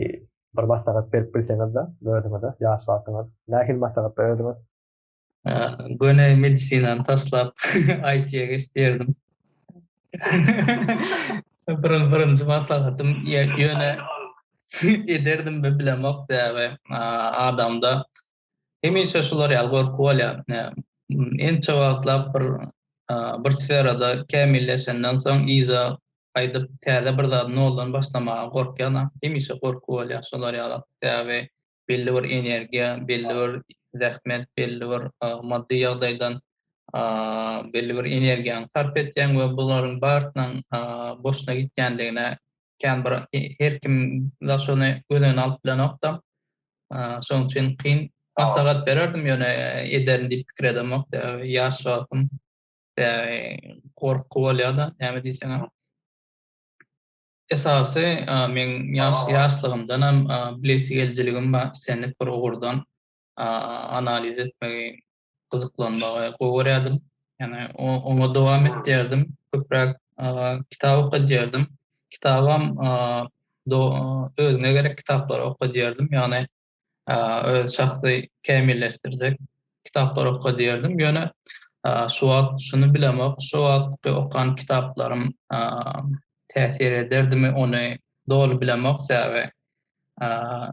bir maslahat berip bilseňizde özüňize ýaş wagtyňyz nähili maslahat bererdiňiz? Göni medisinany taşlap IT-ýa geç diýerdim. Birin birinji maslahatym ýöne ederdim mi bilemok sebäbi adamda Hemişe şular ýaly gorky bolýar. Ençe wagtlap bir bir sferada kämilleşenden soň yza gaýdyp täze bir zady noldan başlamaga gorkýan-a. Hemişe gorky bolýar şular ýala. Sebäbi belli bir energiýa, belli bir zähmet, belli bir maddy ýagdaýdan belli bir energiýaňy sarp etýäň we bularyň barysynyň boşuna gitýändigine kän bir her kim daş ony göz öňüne alyp bilenokda. Şonuň üçin kyn. Maslahat bererdim, ýöne ederin diýip pikir edemok. Sebäbi ýaş wagtym. Gorky bolýar-da, näme diýseňem. Esasy meň ýaşlygymdanam bilesigelijiligim bar. Islendik bir ugurdan analiz etmegi gyzyklanmagy gowy görýärdim. Ýani oňa dowam etdirdim. Köpräk kitap okadýardym. Kitabam özüne gerek kitaplary okadýardym. Ýani öz şahsy kämilleşdirjek kitaplary okadýardym. Ýöne şu wagt şuny bilemok, şu wagtky okan kitaplarym täsir ederdimi, ony doly bilemok. Sebäbi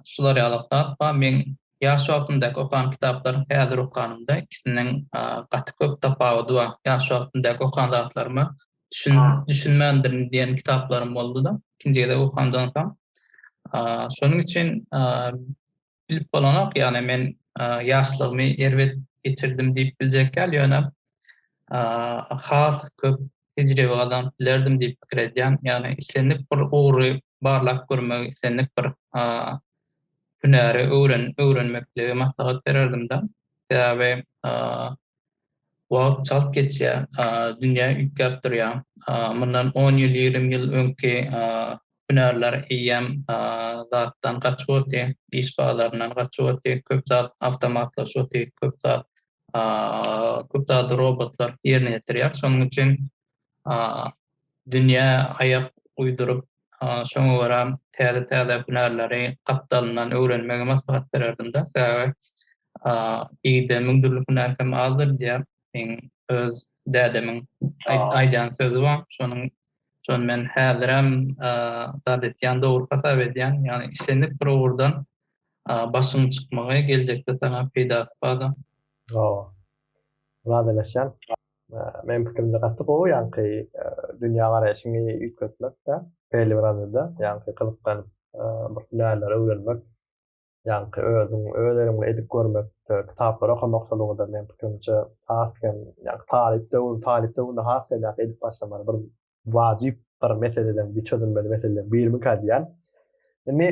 şular ýaly kitap bar. Meň ýaş wagtymdaky okan kitaplaryň häzir okanymda ikisiniň gaty köp tapawudy bar. Ýaş wagtymdaky okan zatlaryma düşünmändirin diýen kitaplarym boldy-da, ikinji gezek okandan soň. Şonuň üçin bilip bolanok, ýagny men ýaşlygymy erbet geçirdim diýip biljek däl, ýöne has köp tejribe gazanyp bilerdim diýip pikir edýän, ýagny islendik bir ugry barlap görmegi, islendik bir hünäri öwren öwrenmekligi maslahat bererdim-de. Sebäbi wagt çalt geçýär, dünýä üýtgäp durýar. Mundan on ýyl, ýigrimi ýyl öňki hünärler eýýäm zatdan gaçyp otyr, iş bazaryndan gaçyp otyr, köp zat awtomatlaşyp otyr, köp zat köp zady robotlar ýerine ýetirýär. Şonuň üçin dünýä aýak uýduryp, şoňa görä täze-täze hünärleri gapdalyndan öwrenmegi maslahat bererdim-de. Sebäbi igde müň dürli hünär hem azdyr diýýär. Meň öz dädemiň aýdan sözi bar. Şonuň Şony men häzirem zat etýän dogry hasap edýän. Ýagny islendik bir ugurdan başyň çykmagy geljekde saňa peýdasy bar-da. Hawa. Razylaşýan. Meniň pikirimçe gaty gowy ýagny dünýä garaýşyňy üýtgetmek-de, belli bir aňyrda ýagny gyzyklanyp bir hünärleri öwrenmek ýaňky özüň öz eliň bilen edip görmek kitaplary okamak şol ugurda meň pikirimçe has hem ýaňky talyp döwür talyp döwründe has hem ýaňky edip başlamaly bir wajyp bir meseleden bir çözülmeli meseleden birmikä diýýän indi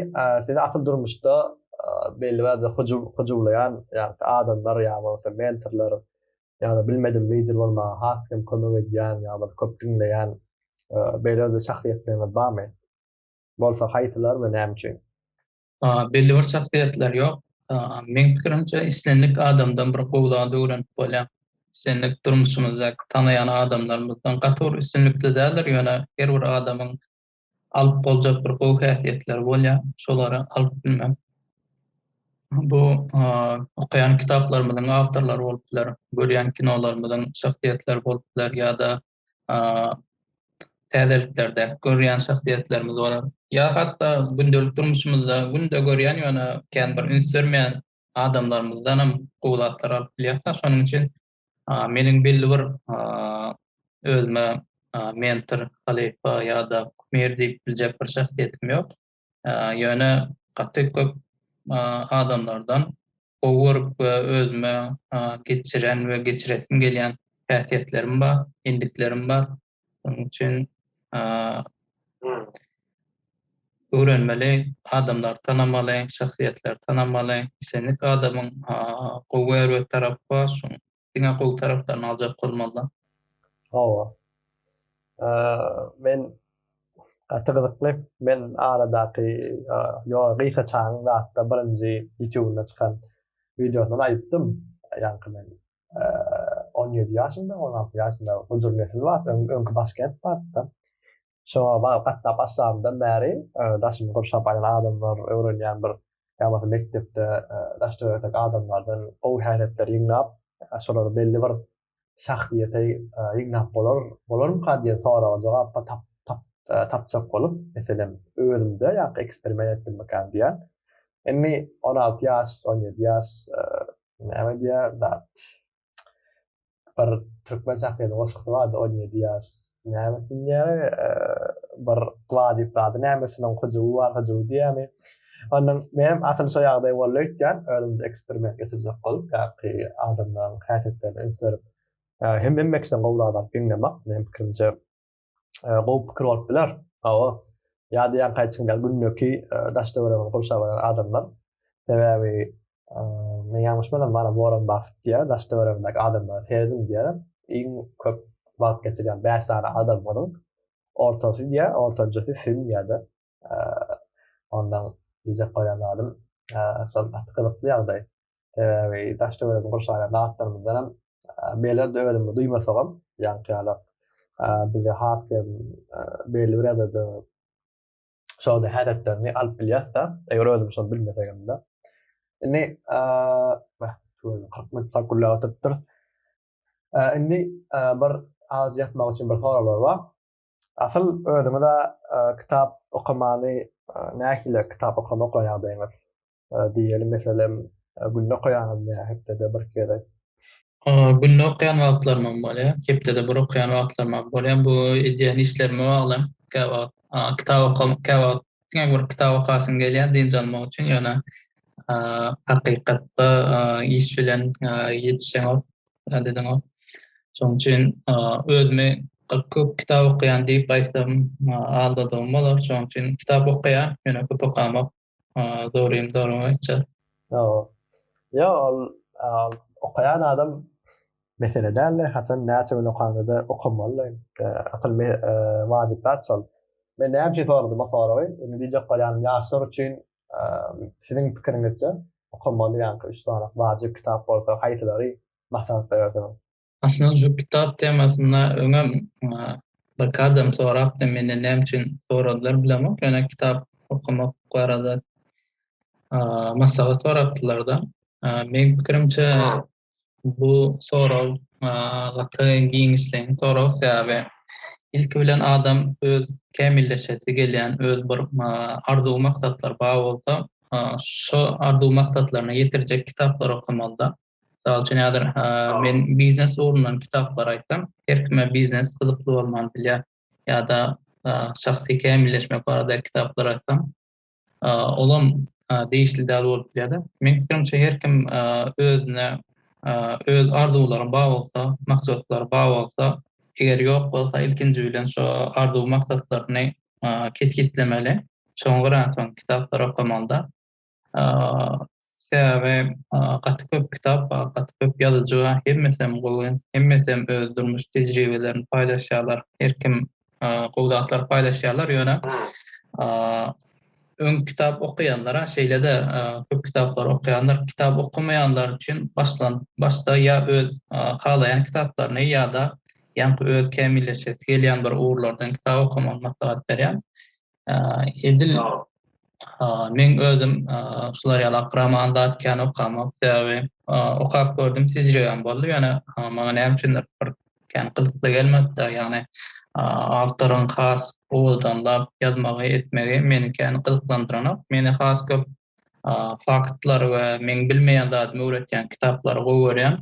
sizi asyl durmuşda belli bir hyjuw hyjuwlaýan ýaňky adamlar ýa bolmasa mentorlar ýa-da bilmedim lider bolmaga has hem kömek edýän ýa bir köp diňleýän beýle bir şahsyýetleriniz barmy bolsa haýsylar we näme üçin. Belli bir şahsyýetler ýok. Meň pikirimçe, islendik adamdan bir gowy zat öwrenip bolýar. Islendik durmuşymyzdaky tanaýan adamlarymyzdan gaty bir üstünlikli däldir, ýöne her bir adamyň alyp boljak bir gowy häsiýetleri bolýar. Şolary alyp bilmek. Bu okaýan kitaplarymyzyň awtorlary bolup biler, görýän kinolarymyzyň şahsyýetleri bolup biler ýa-da täzeliklerde görýän şahsyýetlerimiz bolar. Ýa hatda gündelik durmuşymyzda günde görýän, ýöne kän bir üns bermeýän adamlarymyzdanam gowy zatlar alyp bilýäris. Şonuň üçin meniň belli bir özüme mentor, halypa ýa-da kumir diýip biljek bir şahsyýetim ýok. ýöne gaty köp adamlardan gowy görüp we özüme geçiren we geçiresim gelýän häsiýetlerim bar, endiklerim bar. Şonuň üçin öwrenmeli, adamlary tanamaly, şahsyýetleri tanamaly. Islendik adamyň gowy we erbet tarapy bar. Diňe gowy taraplarny aljak bolmalyda. Hawa. Men gaty gyzykly. Men aradaky ýo Gysa Çagyň zatda birinji ýutubynda çykan wideosyndan aýypdym. Ýaňky men on ýedi ýaşymda, on alty ýaşymda Hojur Nesil bar, öňki Başkent bardy-da. Şoňa bagy gatnap başlamdan bäri daşymy gurşap aýan adamlar, öwrenýän bir ýabasy mekdepde daş töwerek adamlardan gowy häsiýetleri ýygnap, şolary belli bir şahsyýete ýygnap bolar, bolarmyka diýen soraga jogap tapjak bolup, meselem, özümde ýa-da eksperiment etdimmikäm diýýän. Indi on alty ýaş, on ýedi ýaş näme diýýär, dat. bir türkmen şahyrynyň goşgusy bardy on ýedi ýaş näme diýýäri bir gla diýip zady nämesiniň hyjuwy bar hyjuwy diýýämi ondan menem asyl şo ýagdaý boldy öýtýän özümde eksperiment geçirjek bolup ýaňky adamlaryň häsiýetlerini üns berip hem hemmekinden gowy zat alyp diňlemek meň pikirimçe gowy pikir bolup biler. Hawa. Ýa-da ýa gaýtym ýa gündeki daş-töweregimizi gurşap alan adamlar. Sebäbi men ýalňyşmasam bana Warren Buffett diýýär, daş-töweregimdäki adamlara serediň diýýär. Iň köp wagt geçirýän bäş sany adamlaryň ortasy diýýär, ortanjasy Sim diýýär-de. Ondan diýjek bolan zadym, şol gaty gyzykly ýagdaý. Sebäbi daş-töweregi gurşaýan zatlarymyzdan hem beýleler özümizi duýmasagam, ýaňkyýalak bizi has hem belli bir ýagdaýda şol häsiýetlerini alyp bilýäs-de, eger özümiz şony bilmesegemde. Indi kyrk minut gürläp oturypdyrys. Indi bir az ýatmak üçin bir soraglar bar. Asyl özüňiz-ä kitap okamany nähili kitap okamak ýagdaýyňyz? Diýeli meselem günde okaýaňyzmy ýa hepdede bir gezek? Günde okaýan wagtlarymam bolýar, hepdede bir okaýan wagtlarymam bolýar. Bu edýän işlerime bagly. Käwagt kitap okamak, käwagt diňe bir kitap okasyň gelýär dynç almak üçin. Ýöne hakykatda iş bilen ýetişeňok. Adediň o. Şoň üçin özümi köp kitap okaýan diýip aýtsam aldadygym bolar. Şoň üçin kitap okaýan, ýöne köp okamak dogrymy dogrumy aýtjak. Ýok. Ýok, ol okaýan adam mesele däldi. Haçan näçe gün okanda-da okamaly. Asyl wajyp zat şol. Men näme üçin soradym o soragy? Indi diýjek bolýanym, ýaşlar üçin Siziň pikiriňizçe, okamaly ýa-da üç sany wajyp kitap bolsa, haýsylary maslahat berersiňiz? Aslynda şu kitap temasynda öňem birki adam sorapdy, menden näme üçin soradylar bilemok, ýöne kitap okamak barada maslahat sorapdylar-da. Meň pikirimçe, Bu sorag gaty giňişleýin sorag, sebäbi ilki bilen adam öz kämilleşesi gelýän öz bir arzuw-maksatlary bar bolsa, şo arzuw-maksatlaryna ýetirjek kitaplary okamalyda. Mysal üçin, häzir men biznes ugrundan kitaplar aýtsam, her kime biznes gyzykly bolman bilýär. Ýa-da şahsy kämilleşmek barada kitaplar aýtsam, Olam degişli däl bolup bilýär-de. Meň pikirimçe her kim özüne öz arzuwlary bar bolsa, maksatlary bar bolsa, eger ýok bolsa ilkinji bilen şo arzuw maksatlaryny kesgitlemeli. Şoňa görä soň kitaplar okamaly-da. Sebäbi gaty köp kitap bar, gaty köp ýazyjy bar. Hemmesem gowy, hemmesem öz durmuş tejribelerini paýlaşýarlar. Her kim gowy zatlary paýlaşýarlar, ýöne öň kitap okaýanlara, şeýle-de köp kitaplary okaýanlar, kitap okamaýanlar üçin başlan başda ýa öz halaýan kitaplaryny ýa-da ýaňky öz kämilleşesi gelýän bir ugurlardan kitap okamagy maslahat berýän. Edil men özüm şular ýaly akraman zat kän okamak, sebäbi okap gördüm, tejribem boldy, ýöne maňa näme üçindir bir kän gyzykly gelmedi-de, ýagny awtoryň has owazdanlap ýazmagy, etmegi meni kän gyzyklandyranok. Meni has köp Faktlar we meň bilmeýän zadymy öwretýän kitaplary gowy görýän.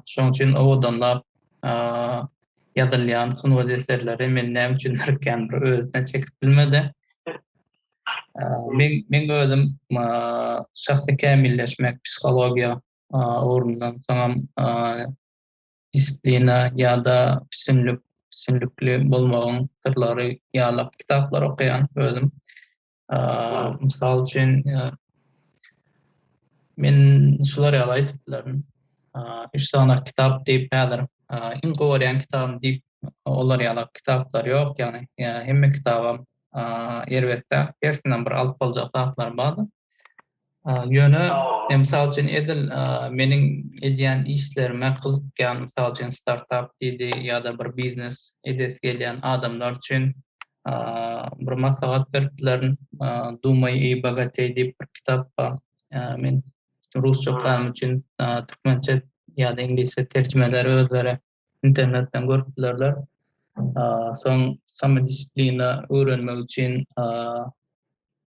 Şonuň üçin owadanlap ýazylýan sungat eserleri meni näme üçindir kän bir özüne çekip bilmedi. Men meň özüm şahsy kämilleşmek, psihologiýa ugrundan, soňam disiplina ýa-da üstünlik, üstünlikli bolmagyň syrlary ýaly kitaplar okaýan özüm. Mysal üçin, men şular ýaly aýdyp bilerin. Üç sany kitap diýip häzir iň gowy görýän kitabym diýip olar ýaly kitaplar ýok. Ýagny hemme kitabam erbetde. Hersinden bir alyp boljak zatlar bar. Ýöne, mysal üçin, edil meniň edýän işlerime gyzykýan, mysal üçin, startap diýdi ýa-da bir biznes edesi gelýän adamlar üçin bir maslahat berip bilerin. Dumay i bogatey diýip bir kitap bar. Men rusça okanym üçin türkmençe ýa-da iňlisçe terjimeleri özleri internetden görüp bilerler. Soň samodisciplina öwrenmek üçin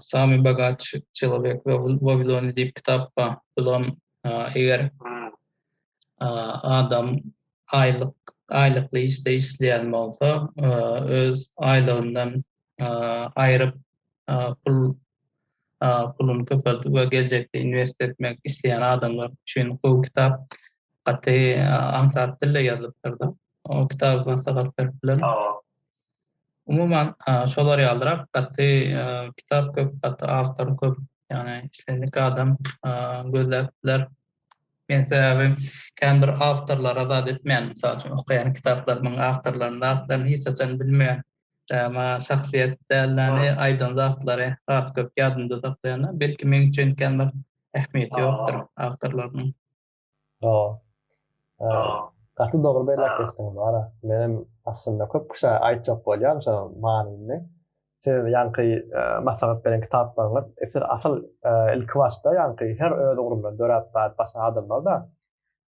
Sami Bagaç Çelobek we Waviloni diýip kitap ba. Bulam eger adam aýlyk aýlykly işde işleýän bolsa, öz aýlygyndan aýryp pul puluny köpeldip we geljekde inwest etmek isleýän adamlar üçin gowy kitap. Gaty aňsat dilde ýazylypdyr-da. O kitaby maslahat berip bilerin. Umuman, şolar ýalyrak gaty kitap köp, gaty awtor köp. Ýagny islendik adam gözläp biler. Men sebäbi kän bir awtorlara zat etmeýän. Mysal üçin, okaýan kitaplarymyň awtorlarynyň zatlaryny hiç haçan bilmeýän. Maňa şahsyýet dälleni, aýdan zatlary has köp ýadymda saklaýan. Belki meň üçin kän bir ähmiýeti ýokdur awtorlarynyň. Do. Gaty dogry belläp geçdiň Mara. Menem aslynda köp kişä aýtjak bolýan şo manyny. Siz ýaňky maslahat beren kitaplaryňyz esir asyl ilki başda ýaňky her öz ugrundan döräp bäri başlan adamlar-da.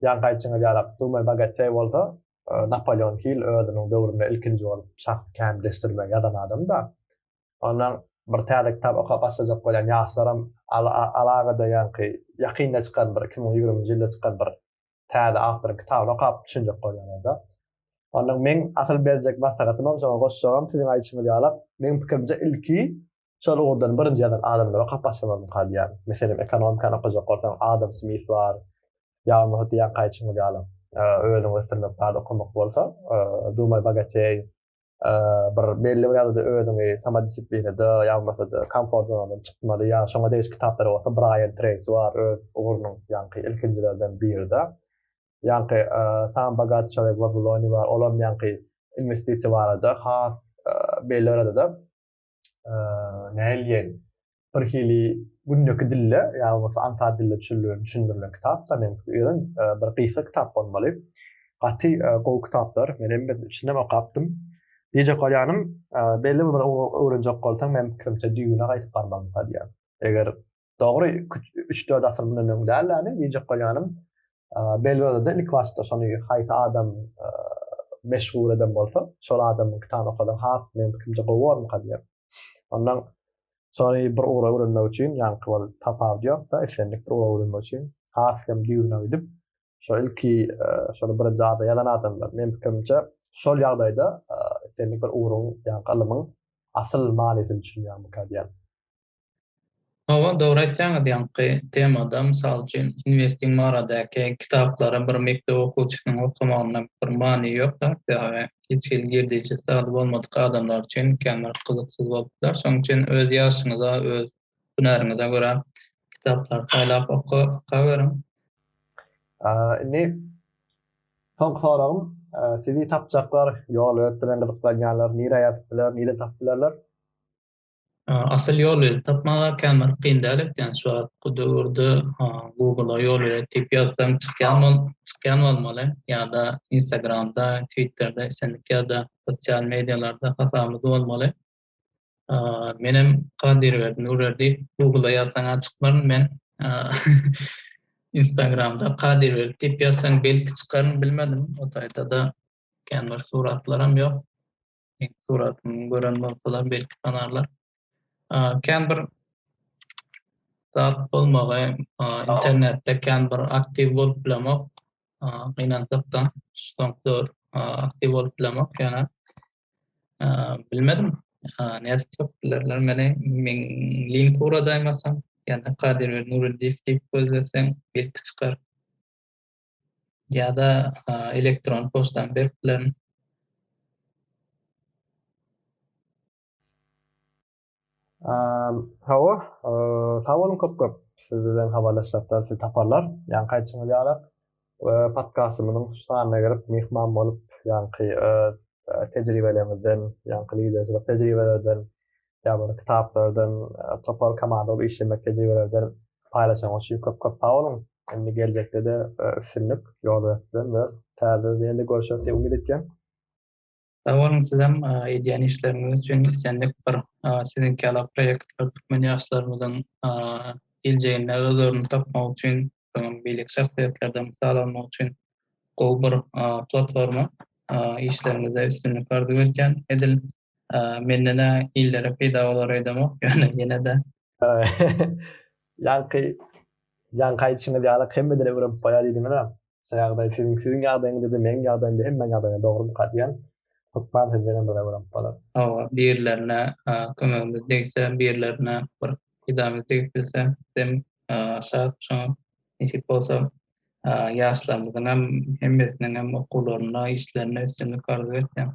Ýaňky aýtjyňyz ýaly Abdumay Bagatyýew bolsa Napoleon Hill özüniň döwründe ilkinji bolup şahsy kämilleşdirmegi ýazan adam-da. Ondan bir täze kitap okap başlajak bolýan ýaşlaram alagada ýaňky ýakynda çykan bir iki müň ýigriminji ýylda çykan bir täze awtoryň kitabyny okap düşünjek bolýan onda. Ondan meň asyl berjek maslahatymam şoňa goşjagym siziň aýdyşyňyz ýalak meň pikirimçe ilki şol ugurdan birinji ýazan adamlary okap başlamalymyka diýýän. Meselem ekonomikany okajak bolsaň Adam Smith bar ýa-da hut ýaňky aýdyşyňyz ýaly özüňi ösdürmek barada okamak bolsa Dumay Bogateý bir belli bir ýagdaýda özüňi samodisiplinada ýagmasada komfort zonadan çykmaly ýa şoňa degiş kitaplar bolsa Brian Tracy bar öz ugrunyň ýaňky ilkinjilerden birida ýaňky Sam Bagat Çolek Wabuloni bar olam ýaňky investisiýa barada has belli bir ýagdaýda näilgen bir hili gündeki dilde ýa bolmasa anta dilde düşündirilen kitap da men öýren e, bir gysga kitap bolmaly. Gaty e, gowy kitaplar. Men hem içinden okapdym. Diýjek bolýanym, e, belli bir öwrenjek bolsaň, men pikirimçe düýbüne gaýdyp barmaly diýýär. Eger Dogry, üç-dört asyr mundan öň däl ýaly, diýjek bolýanym, Belgradada ilki başda şony haýsy adam meşhur eden bolsa, şol adamyň kitabyny okasaň has meň pikirimçe gowy bolarmyka diýip. Ondan şony bir ugra öwrenmek üçin, ýaňky bolup tapawudy ýok-da, islendik bir ugra öwrenmek üçin has hem düýbüne gidip, şo ilki şony birinji ada ýazan adamlar, meň pikirimçe, şol ýagdaýda islendik bir ugruň, ýaňky ylymyň asyl manysyny düşünýärmika diýýän. Hawa, dogry aýtýaňyz, ýaňky temada, mysal üçin, investing baradaky kitaplary bir mekdep okuwçysynyň okamagynda bir many ýok zat, ýagy hiç hili girdejisi zady bolmadyk adamlar üçin kän bir gyzyksyz bolup biler. Şonuň üçin öz ýaşyňyza, öz hünäriňize görä kitaplary saýlap okaweriň. Indi soňky soragym, sizi tapjaklar, ýol, öz bilen gyzyklanýanlar nirä ýazyp biler, nireden tapyp bilerler? Asyl ýol özi tapmaga kän bir kyn däl ekeni şu wagtky döwürde google ýol bilen diýip ýazsaň çykýan bol çykýan bolmaly ýa-da instagramda twitterde islendik ýerde sosial mediýalarda hasabyňyz bolmaly menem Kadyrberdi Nurberdi google ýazsaňa çykmaryn men instagramda Kadyrberdi diýip ýazsaň belki çykaryn bilmedim o taýda-da kän bir suratlaram ýok Meň suratymy gören bolsalar belki tanarlar. Kän bir zat bolmagy, internetde kän bir aktiw bolup bilemok. Gynansakda, soňky aktiw bolup bilemok ýöne bilmedim. Nädip tapyp bilerler meni? Meň link uradaýmasam, ýa-da Kadyr Nuruddiýew diýip gözleseň belki çykar. ýa-da elektron poçtany berip bilerin. Hawa, sag boluň köp-köp. Siz bilen habarlaşjakda sizi taparlar. Ýaňky aýdyşyňyz ýaly, podkastymyzyň şu sanyna gelip myhman bolup, ýaňky öz tejribeleriňizden, ýaňky liderçilik tejribelerden ýa bir kitaplardan, topar komanda bolup işlemek tejribelerden paýlaşanyň üçin köp-köp sag boluň. Indi geljekde-de üstünlik ýoldaşdan we täze ýene-de görüşeris diýip umyt etýän. Sag boluň sizem edýän işleriňiz üçin islendik bir siziňki ýaly proýektler türkmen ýaşlarymyzyň geljeginde öz ornuny tapmagy üçin soňam beýleki şahsyýetlerden mysal almak üçin gowy bir platforma işleriňizde üstünlik arzuw edýän edil Menden-ä illere peýda bolar öýdemok, ýöne ýene-de. Ýaňky, ýaňky aýdyşyňyz ýaly hemmeden öwrenip goýar diýdiňiz-ä. Şu ýagdaý siziň, siziň ýagdaýyňyzda-da, meniň ýagdaýymda, hemmäň ýagdaýynda dogrumyka diýýän. Hökman sizdenem bir öwrenip bolar. Hawa, birilerine kömegimiz degse, birilerine bir peýdamyz degip bilse, bizem şat. Şoňa nesip bolsa, ýaşlarymyzyň hem hemmesiniň hem okuwlarynda, işlerinde üstünlik arzuw etýän.